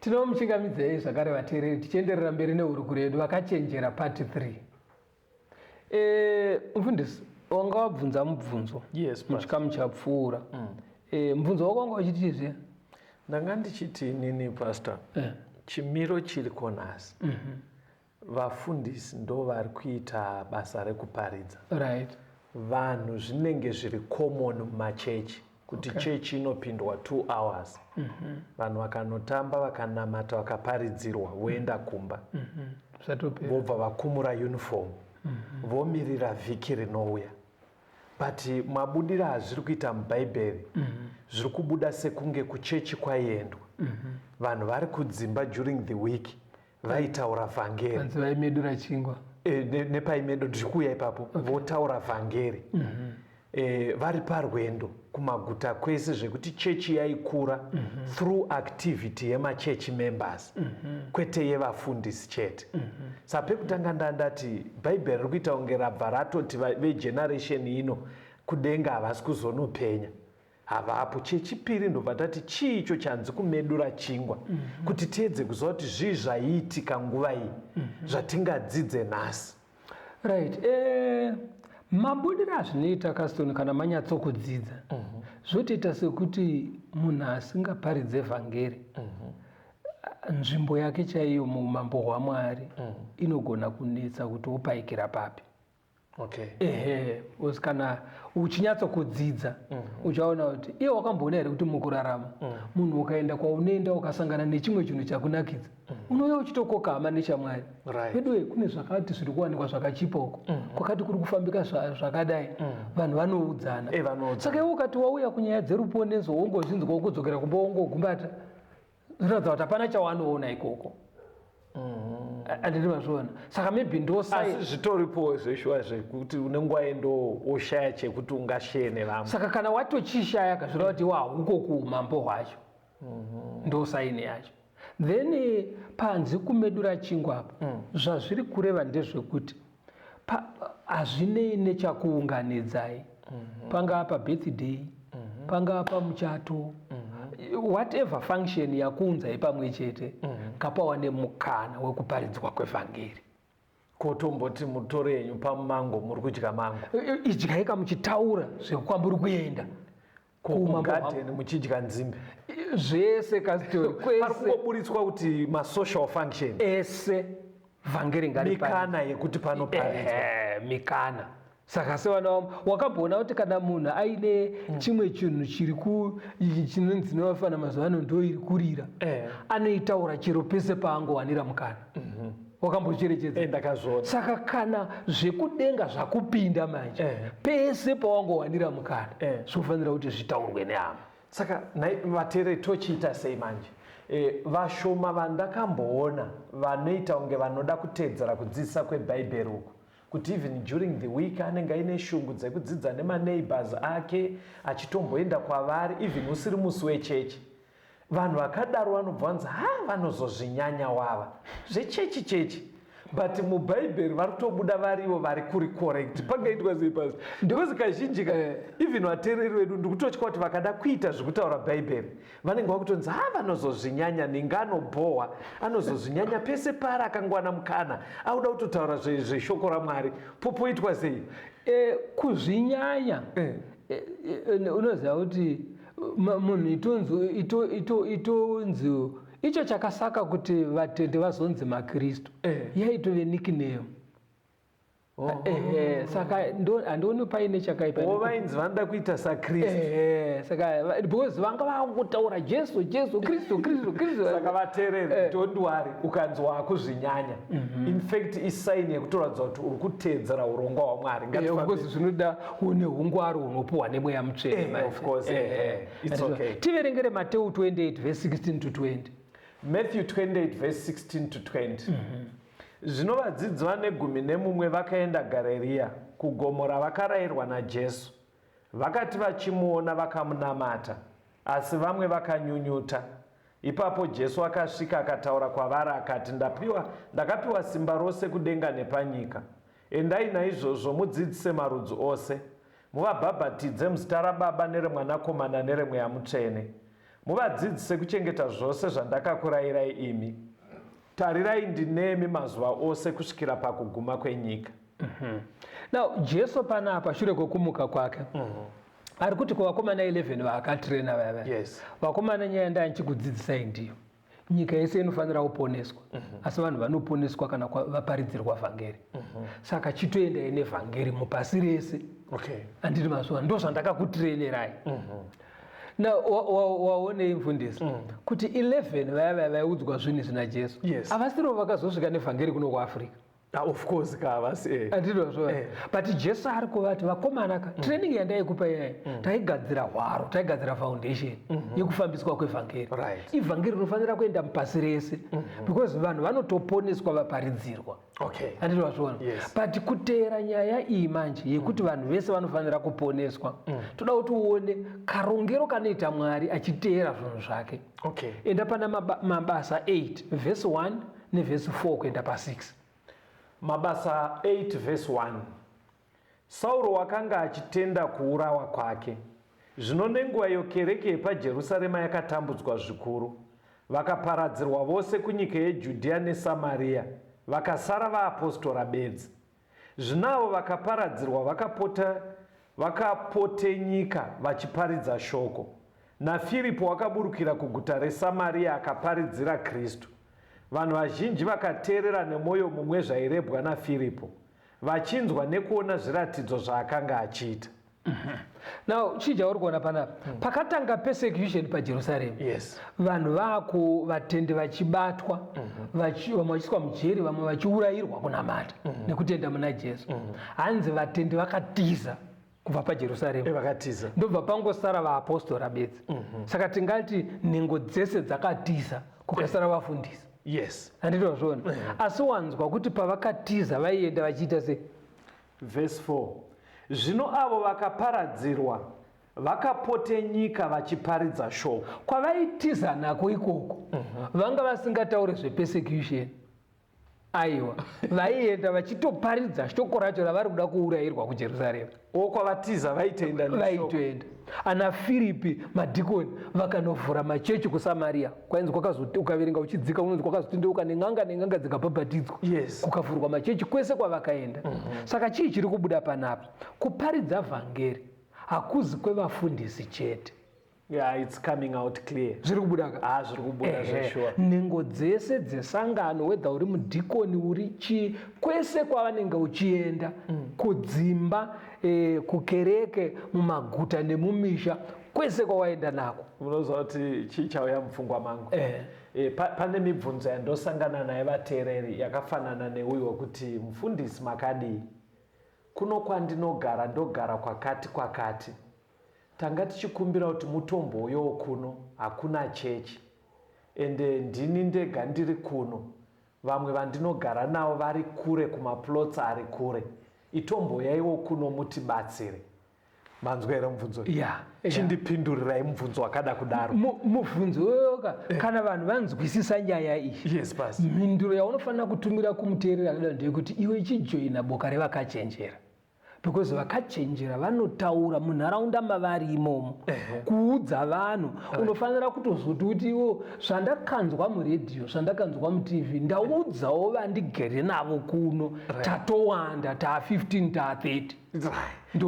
Tinomuchingamidzei zvakare vateereri tichienderera mberi nehurukuro yedu vakachenjera part 3. Eh, mfundisi wanga wabvunza mubvunzo yes, muchikamu chapfuura mm. eh, mubvunzo wako wanga wachiti zve ndanga ndichiti nini pastor eh. chimiro chiri konhasi mm -hmm. Vafundisi ndovari kuita basa rekuparidza. Right. Vanhu zvinenge zviri common mumachechi kuti okay. chechi inopindwa two hours mm -hmm. vanhu vakanotamba vakanamata vakaparidzirwa voenda mhm. kumba mm -hmm. vobva vakumura uniform mm -hmm. vomirira vhiki rinouya but mabudira hazviri kuita mubhaibheri mm -hmm zviri kubuda sekunge kuchechi kwaiendwa mm -hmm. vanhu vari kudzimba during the week vaitaura vhangeri vanzi vaimedura chingwa e, ne, nepaimedo ndiri kuuya ipapo okay. votaura vhangeri mm -hmm. e, vari parwendo kumaguta kwese zvekuti chechi yaikura mm -hmm. through activity yemachechi members mm -hmm. kwete yevafundisi chete mm -hmm. sa pekutanga nda ndati bhaibheri ri kuita kunge rabva ratoti vegeneration ino kudenga havasi kuzonopenya havapo chechipiri ndobva tati chii icho chanzi kumedura chingwa mm -hmm. kuti tiedze kuziva kuti zvii zvaiitika nguva iyi mm -hmm. zvatingadzidze nhasi right eh, mabudiro azvinoita kastoni kana manyatsokudzidza mm -hmm. zvotoita sekuti munhu asingaparidze vhangeri mm -hmm. nzvimbo yake chaiyo muumambo hwamwari mm -hmm. inogona kunetsa kuti wopaikira papi okay. ehe bcause kana uchinyatso kudzidza mm -hmm. uchaona kuti iye wakamboona here kuti mukurarama mm. munhu mm -hmm. ukaenda kwaunoenda ukasangana nechimwe chinhu chakunakidza mm -hmm. unouya uchitokoka hama nechamwari veduwe right. kune zvakati zviri kuwanikwa zvakachipoko mm -hmm. kwakati kuri kufambika zvakadai mm -hmm. vanhu vanoudzana hey, eh, saka iwe ukati wauya kunyaya dzeruponeso wongozvinzwa wokudzokera kumba wongogumbata zvinoratidza kuti hapana chawanoona ikoko anditi mm. mazviona saka maybe ndoasi zvitoripowo zveshuwa zvekuti une nguva yendo woshaya chekuti ungasheye nevamwe saka kana watochishaya kazvireva kuti wahuko kuumambo hwacho mm-hmm. ndosaini yacho then eh, panzi kumedura chingwa apo mm. zvazviri kureva ndezvekuti hazvinei nechakuunganidzai mhm. pangaa pabirthday mhm. pangaa pamuchato mhm. whatever function yakuunzai pamwe chete ngapawa nemukana wekuparidzwa kwevhangeri kotomboti mutoro yenyu pamango muri kudya mango idyai kamuchitaura zvekukwamburi kuenda kumagarden muchidya nzimbe zvese kungobuditswa kuti masocial function ese vhangeri ngaripamikana yekuti pano paridzwa mikana saka sevana vamo wakamboona kuti kana munhu aine mm. chimwe chinhu chiri chinonzi nevafana mazuva ano ndo iri kurira eh. anoitaura chero pese paangowanira mukana Mhm. wakambocherechedza eh, ndakazviona saka kana zvekudenga zvakupinda manje eh. pese pawangowanira mukana eh. zvinofanira kuti zvitaurwe nehama saka vatere tochiita sei manje e, vashoma vandakamboona vanoita kunge vanoda kutedzera kudzidzisa kwebhaibheri uku kuti even during the week anenge aine shungu dzekudzidza nemaneighbors ake achitomboenda kwavari even usiri musi wechechi Vanhu vakadaro vanobva vanzi ha vanozozvinyanya wava zvechechi chechi but mubhaibheri vari kutobuda varivo vari kuri correct pangaitwa sei pasi because kazhinji ka eh. even vateereri vedu ndikutotya kuti vakada kuita zvekutaura bhaibheri vanenge vakutonzi ha vanozozvinyanya ninga anobhohwa anozozvinyanya pese paari akangwana mukana auda kutotaura zveshoko ramwari popoitwa sei eh, kuzvinyanya eh. unoziva kuti munhu itonzi icho chakasaka kuti vatende vazonzi makristu eh. yaitove nickname oh. ehe saka handioni paine chakaipaovainzi oh, vanoda kuita sakristu ehe saka because vanga vakutotaura jesu jesu kristu kristu kristu saka vatereri eh. don't worry ukanzi wakuzvinyanya mhm. in fact isaini yekutoratidza kuti uri kuteedzera urongwa hwamwari eh, zvinoda une hungwaru hunopuhwa nemweya mutsvene eh, of course eh, eh, eh. it's okay tiverengere mateu 28 verse 16 to 20 matthew 28 verse 16 to 20 mm -hmm. zvino vadzidzi vane gumi nemumwe vakaenda gareriya kugomo ravakarayirwa najesu vakati vachimuona vakamunamata asi vamwe vakanyunyuta ipapo jesu akasvika akataura kwavari akati ndapiwa ndakapiwa simba rose kudenga nepanyika Endai naizvozvo mudzidzise marudzi ose, muvabhabhatidze muzita raBaba nereMwanakomana nereMweya Mutsvene, muvadzidzise kuchengeta zvose zvandakakurayirai imi. Tarirai, ndinemi mazuva ose kusvikira pakuguma kwenyika. Mhm. Now, Jesu panapa, shure kwekumuka kwake, mhm. ari kuti kuvakomana 11 vaakatirena vaya vaya, vakomana nyaya ndaya ndichikudzidzisai ndiyo. nyika yese inofanira kuponeswa mhm. asi vanhu vanoponeswa kana vaparidzirwa vhangeri mhm. saka chitoendai nevhangeri mupasi rese andiri mazuva ndo zvandakakutirenerai mhm. na waonei mfundisi mm. kuti 11 vaya vaya vaiudzwa zvinhu izvi najesu avasirivo vakazosvika nevhangeri kuno kuafrica Ah, of course ka vasi eh. andizvo zvo eh. but jesu ari kuvati vakomana ka mm. training yandaikupa iyayi mm. taigadzira hwaro taigadzira foundation mm -hmm. yekufambiswa kwevhangeri right. ivhangeri rinofanira kuenda mupasi rese mm -hmm. because vanhu vanotoponeswa vaparidzirwa okay. andizvo vazviona yes. but kuteera nyaya iyi manje yekuti mm. vanhu vese vanofanira kuponeswa mm. toda kuti uone karongero kanoita mwari achiteera zvinhu zvake okay. enda pana mabasa 8 vhesi 1 nevhesi 4 kuenda pa6 mabasa 8 vhesi 1 sauro wakanga achitenda kuurawa kwake zvino nenguva iyo kereke yepajerusarema yakatambudzwa zvikuru vakaparadzirwa vose kunyika yejudhiya nesamariya vakasara vaapostora bedzi Zvino avo vakaparadzirwa vakapota vakapotenyika vachiparidza shoko. NaFiripo wakaburukira kuguta reSamaria akaparidzira Kristu. Vanhu vazhinji vakateerera nemoyo mumwe zvairebwa naFiripo, vachinzwa nekuona zviratidzo zvaakanga achiita. now chii chauri kuona panapa mm. pakatanga persecution pajerusalem yes. vanhu vaku vatendi vachibatwa mm-hmm. vamwe vachiiswa mujeri vamwe vachiurayirwa kunamata mm-hmm. nekutenda muna jesu mm-hmm. hanzi vatendi vakatiza kubva pajerusaremu eh, vakatiza ndobva pangosara vaapostora bedzi mm-hmm. saka tingati nhengo dzese dzakatiza kukasara vafundisi yes anditozvona mm-hmm. asi wanzwa kuti pavakatiza vaienda vachiita sei Verse 4 Zvino avo vakaparadzirwa vakapotenyika vachiparidza shoko. Kwavaitiza nako ikoko vanga vasingatauri zvepersecution. Aiwa, vaienda vachitoparidza shoko racho ravari kuda kuurayirwa kuJerusarema. O, kwavatiza vaitoenda neshoko. Vaitoenda. Ana Firipi, madhikoni, vakanovhura machechi kuSamaria. kwainzi kwakazoti ukaverenga uchidzika unonzi kwakazotendeuka nen'anga nen'anga dzikabhabhatidzwa yes. kukavhurwa machechi kwese kwavakaenda mm -hmm. saka chii chiri kubuda panapa kuparidza vhangeri hakuzi kwevafundisi chete Yeah, it's coming out clear. Zviri kubuda ka? Ah, zviri kubuda zve sure. Nengo dzese dzesangano whether uri mudhikoni uri chi kwese kwavanenge uchienda mm. kudzimba eh, kukereke mumaguta nemumisha kwese kwawaenda nako unoziva kuti chii chauya mupfungwa mangu eh. E, pa, pane mibvunzo yandosangana naye vateereri yakafanana neuyo wekuti mufundisi makadii kuno kwandinogara ndogara kwakati kwakati tanga tichikumbira kuti mutombouyowo kuno hakuna chechi ende ndini ndega ndiri kuno vamwe vandinogara navo vari kure kumaplots ari kure itomboyaiwo kuno mutibatsire manzwa here mubvunzo yeah, yeah. chindipindurirai mubvunzo wakada kudaro mubvunzo yoyoka eh. kana vanhu vanzwisisa nyaya iyi yes, mhinduro yaunofanira kutumira kumuteereri akadaro ndeyekuti iwe chijoina boka revakachenjera because vakachenjera vanotaura munharaunda mavari imomo kuudza vanhu unofanira kutozoti kuti iwo zvandakanzwa muredhiyo zvandakanzwa mutv ndaudzawo vandigere navo kuno tatowanda taa 15 taa 30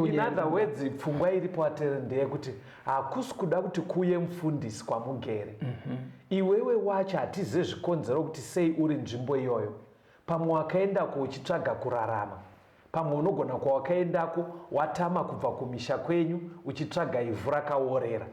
in other words pfungwa iripo atere ndeyekuti hakusi kuda kuti kuye mufundisi kwamugere mm -hmm. iwewe wacho hatizive zvikonzero kuti sei uri nzvimbo iyoyo pamwe wakaendako uchitsvaga kurarama pamwe unogona kwawakaendako watama kubva kumisha kwenyu uchitsvaga ivhu rakaworera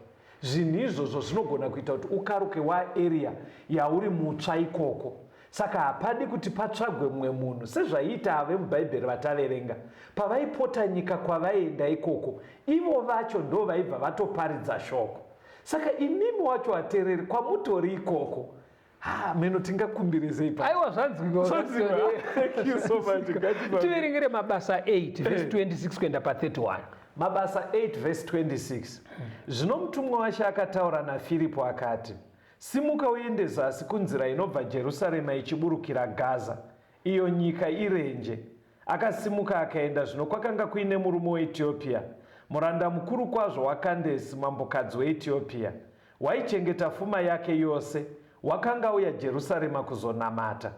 zvinhu izvozvo zvinogona kuita kuti ukaruke waaria yauri mutsva ikoko Saka hapadi kuti patsvagwe mumwe munhu, sezvaiita ave muBhaibheri vataverenga. Pavaipota nyika kwavaienda ikoko, ivo vacho ndo vaibva vatoparidza shoko. Saka imimi wacho vatereri kwamutori ikoko, ha meno tingakumbirezei pa Aiwa zvanzwikwa Zvanzwikwa. pastor. Thank you so much. Ngatipa- Tiverengere mabasa 8 verse 26 kuenda pa 31. Mabasa 8 verse 26 zvino mutumwa washe akataura naFiripo akati Simuka uende zasi kunzira inobva Jerusarema ichiburukira Gaza, iyo nyika irenje. Akasimuka akaenda, zvino kwakanga kuine murume weEtiopia, muranda mukuru kwazvo waKandesi, mambokadzi weEtiopia, waichengeta fuma yake yose, wakanga auya Jerusarema kuzonamata.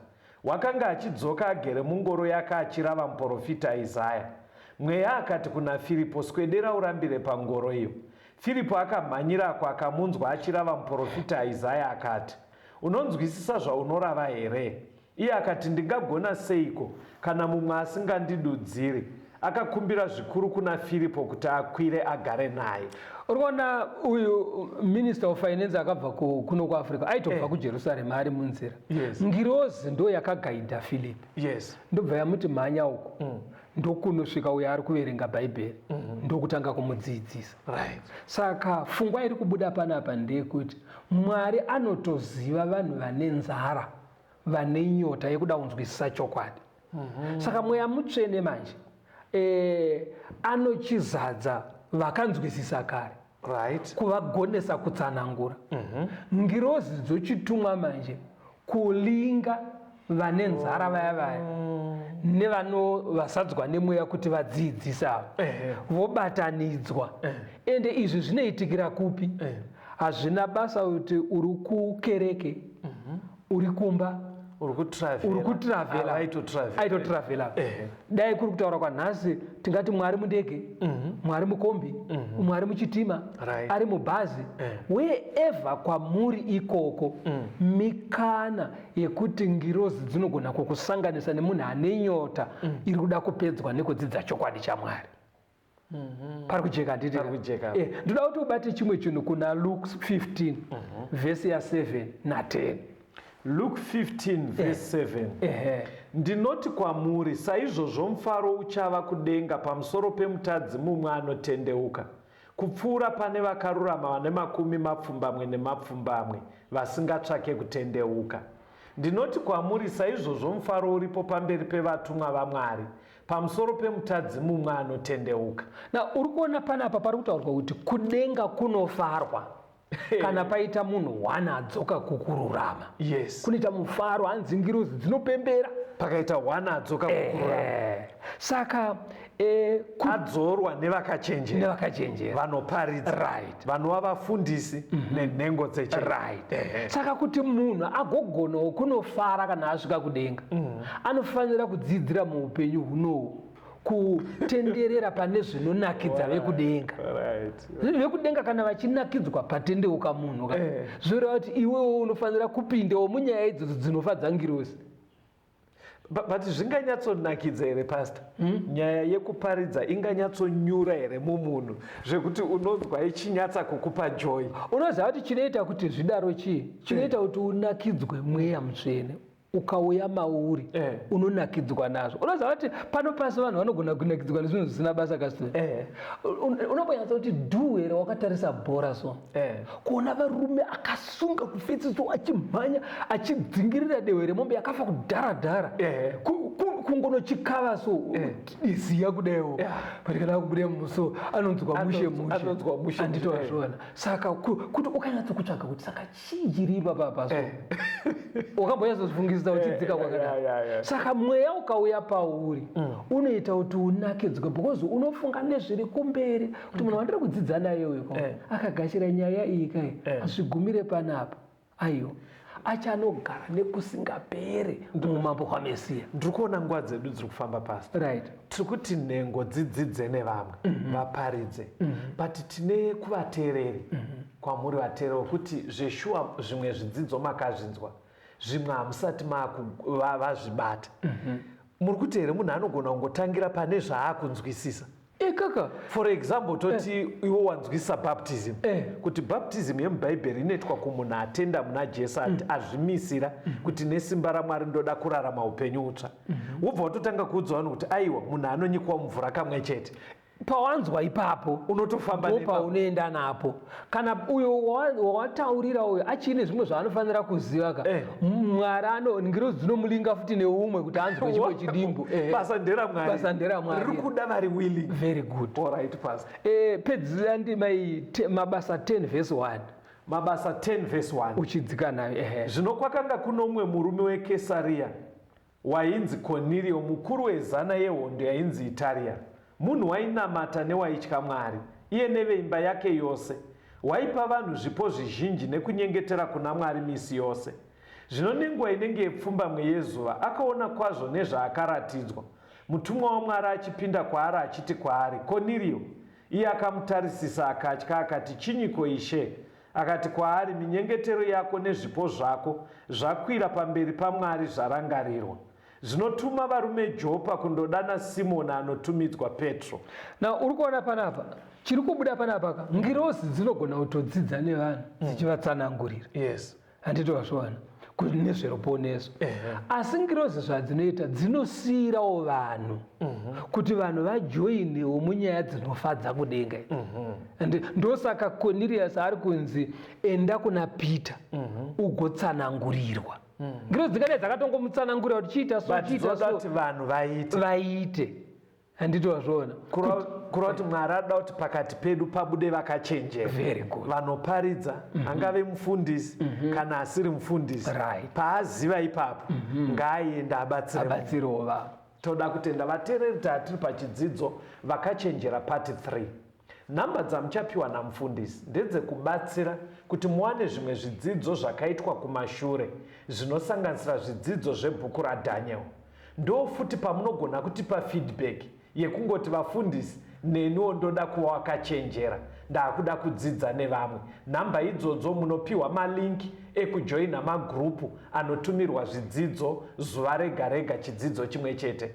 Wakanga achidzoka agere mungoro yake achirava muporofita Isaya. Mweya akati kuna Firipo, Swedera urambire pangoro iyo. Firipo akamhanyirako akamunzwa achirava muporofita Isaya akati, Unonzwisisa zvaunorava here? Iye akati, Ndingagona seiko kana mumwe asingandidudziri? akakumbira zvikuru kuna firipo kuti akwire agare naye urikuona uyu minister of finance akabva kuno kuafrica aitobva eh. kujerusarema ari munzira yes. ngirozi ndo yakagaidha filipi yes. ndobva yamuti mhanya uko mm. ndokunosvika uyo ari kuverenga bhaibheri mm -hmm. ndokutanga kumudzidzisa right. saka fungwa iri kubuda panapa ndeyekuti mwari anotoziva vanhu vane nzara vane nyota yekuda kunzwisisa chokwadi mhm. saka mweya mutsvene manje eh, anochizadza vakanzwisisa kare right. kuvagonesa kutsanangura mm -hmm. ngirozi dzochitumwa manje kulinga vane nzara vaya vaya mm. nevano vasadzwa nemweya kuti vadziidzise ava vobatanidzwa ende izvi zvinoitikira kupi hazvina basa kuti uri kukereke mm -hmm. uri kumba uri kutiravela aitotiravela eh. dai kuri kutaura kwanhasi tingati mwari mundege mhm. mwari mukombi mhm. mwari muchitima ari mubhazi eh. weeva kwamuri ikoko mm. mikana yekuti ngirozi dzinogona kukusanganisa nemunhu ane nyota mm. iri kuda kupedzwa nekudzidza chokwadi chamwari Mhm. pari kujeka handiti eh, ndoda kuti ubate chimwe chinhu kuna luke 15 mhm. vhesi ya7 na10 luke 15 vhesi 7 eh. ndinoti kwamuri saizvozvo mufaro uchava kudenga pamusoro pemutadzi mumwe anotendeuka kupfuura pane vakarurama vane makumi mapfumbamwe nemapfumbamwe vasingatsvake kutendeuka ndinoti kwamuri saizvozvo mufaro uripo pamberi pevatumwa vamwari pamusoro pemutadzi mumwe anotendeuka na uri kuona panapa pari kutaurwa kuti kudenga kunofarwa kana paita munhu one adzoka kukururama yes kunoita mufaro hanzi ngirozi dzinopembera pakaita one adzoka kukururama eh, saka eh, adzorwa nevakachenjera nevakachenjera vanoparidza right vanova vafundisi mm -hmm. nenhengo dzeche right. eh, eh. saka kuti munhu agogonawo kunofara kana asvika kudenga mm -hmm. anofanira kudzidzira muupenyu hunohu kutenderera pane zvinonakidza vekudenga vekudenga kana vachinakidzwa patendeuka munhu ka eh. zvoreva kuti iwewo unofanira kupindawo munyaya idzodzo dzinofadza ngirosi but zvinganyatsonakidza here pasta hmm? nyaya yekuparidza inganyatsonyura here mumunhu zvekuti unonzwa ichinyatsa kukupa joy unoziva kuti chinoita kuti zvidaro chii chinoita kuti unakidzwe mweya mutsvene ukauya mauri eh. unonakidzwa nazvo unoziva kuti pano pasi vanhu vanogona kunakidzwa nezvinhu zvisina basa kasina eh. unobonyatsa kuti dhu here wakatarisa bhora so Eh. kuona varume akasunga kufetsiso achimhanya achidzingirira dehwe remombe yakafa kudhara dhara eh. kungonochikava so eh. iziya kudaiwo patikada kubuda muso anonzwa mushe mushe andito azviona saka kuti ukanyatso kutsvaga kuti saka chii chiri ipapapa so wakambonyatsofungisisa uchidzika kwakadai saka mweya ukauya pauri mm. unoita kuti unakidzwe because unofunga nezviri kumberi kuti munhu wandiri kudzidza naye uyu ka eh. akagashira nyaya iyi kai eh. hazvigumire panapa aiwa achanogara nekusingapere muumambo hwamesiya ndiri kuona nguva dzedu dziri kufamba pasi right tiri kuti nhengo dzidzidze nevamwe mm -hmm. vaparidze mm -hmm. but tine kuvateereri mm -hmm. kwamuri vateereri wekuti zveshuwa zvimwe zvidzidzo makazvinzwa zvimwe hamusati vazvibata mm -hmm. muri kuti here munhu anogona kungotangira pane zvaakunzwisisa Eh, kaka for example toti eh. iwo wanzwisa baptism eh. kuti baptism yemubhaibheri inoitwa kumunhu atenda muna jesu mm. azvimisira mm. kuti nesimba ramwari ndoda kurarama upenyu utsva mm -hmm. wobva watotanga kuudzwa vanhu kuti aiwa munhu anonyikwa mumvura kamwe chete pawanzwa ipapo unotofamba paunoenda napo kana uyo wawataurira uyo achiine zvimwe zvaanofanira kuziva ka eh. mwari ano ngirozi dzinomulinga futi neumwe kuti anzwe chimwe chidimbu eh. basa nderamwaririri kuda vari willing very good orit pas eh, pedzisa ndi mai mabasa 10 vhesi 1 mabasa 10 vhesi 1 uchidzika nayo ehe zvino kwakanga kuno umwe murume wekesariya Wainzi Koniriyo, mukuru wezana yehondo yainzi Itaria. Munhu wainamata newaitya Mwari, iye neveimba yake yose. Waipa vanhu zvipo zvizhinji nekunyengetera kuna Mwari misi yose. Zvino nenguva inenge yepfumbamwe yezuva, akaona kwazvo nezvaakaratidzwa, mutumwa waMwari achipinda kwaari achiti kwaari, Koniriyo! Iye akamutarisisa akatya, akati, Chinyiko, Ishe? Akati kwaari, Minyengetero yako nezvipo zvako zvakwira pamberi paMwari zvarangarirwa. Zvino tuma varume Jopa kundodana Simoni anotumidzwa Petro. Na uri kuona panapa chiri kubuda panapa ka ngirozi dzinogona kutodzidza nevanhu mm. dzichivatsanangurira. Yes. Handiti wazviwana? kuti nezveruponeso asi ngirozi zvadzinoita dzinosiirawo vanhu mhm. kuti vanhu vajoinewo munyaya dzinofadza kudenga mhm. and ndosaka conirius ari kunzi enda kuna peter mhm. ugotsanangurirwa ngirozi dzingadai dzakatongomutsanangurira kuti chiita so chiita so vanhu vaite vaite handiti wazviona kureva kuti mwari ada kuti pakati pedu pabude vakachenjera vanoparidza mm -hmm. angave mufundisi mm -hmm. kana asiri mufundisi right. paaziva ipapo mm -hmm. ngaaende abatsirewo toda kutenda vateereri taatiri pachidzidzo vakachenjera pati 3 Nhamba dzamuchapiwa namufundisi ndedzekubatsira kuti muwane zvimwe zvidzidzo zvakaitwa kumashure zvinosanganisira zvidzidzo zvebhuku raDaniel. Ndofuti pamunogona kutipa feedback yekungoti vafundisi neniwo ndoda kuva wakachenjera ndakuda kudzidza nevamwe. Nhamba idzodzo munopiwa malink ekujoina magroup anotumirwa zvidzidzo zuva rega rega chidzidzo chimwe chete.